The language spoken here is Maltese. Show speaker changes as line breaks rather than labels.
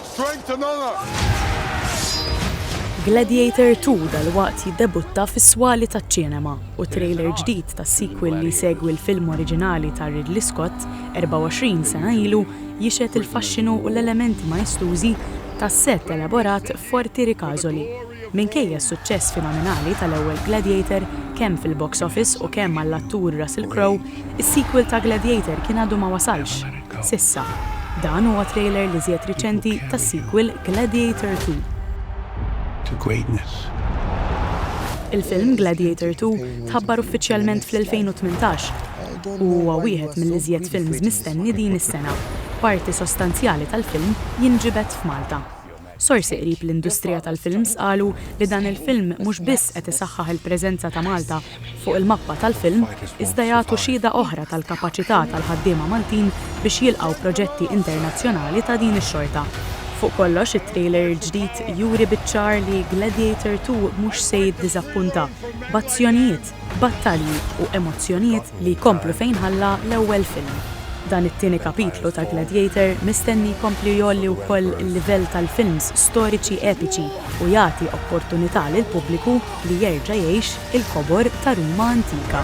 Strength
and Honour! Gladiator Two dalwaqt jiddebutta fis-swali taċ-ċinema, u t-trailer ġdid tas-sequel li jsegwi l-film oriġinali ta' Ridley Scott 24 sena ilu jixhed il-faxxinu u l-elementi maestużi ta' sett elaborat f'Forti Ricasoli. Minkejja s-suċċess fenomenali tal-ewwel Gladiator kemm fil-box office u kemm għall-attur Russell Crowe, is-sequel ta' Gladiator kien għadu ma wasalx. S'issa, dan huwa trailer l-iżjed riċenti tas-sequel Gladiator Two. Il-film Gladiator Two tħabbar uffiċjalment fl-2018 u huwa wieħed mill-iżjed films mistenni din is-sena. Parti sostanzjali tal-film jinġibed f'Malta. Sorsi qrib l-industrija tal-films qalu li dan il-film mhux biss qed isaħħaħ il-preżenza ta' Malta fuq il-mappa tal-film iżda jagħtu xhieda oħra tal-kapaċità tal-ħaddiema Maltin biex jilqgħu proġetti internazzjonali ta' din ix-xorta. Fuq kollox, it-trailer il-ġdid juri biċ-ċar li Gladiator Two mhux se jiddiżappunta, b'azzjonijiet, battalji u emozzjonijiet li jkomplu fejn ħalla l-ewwel film. Dan it-tieni kapitlu ta' Gladiator mistenni jkompli jgħolli wkoll il-livell tal-films storiċi epiċi u jagħti opportunità lill-pubbliku li jerġa' jgħix il-kobor ta' Ruma antika.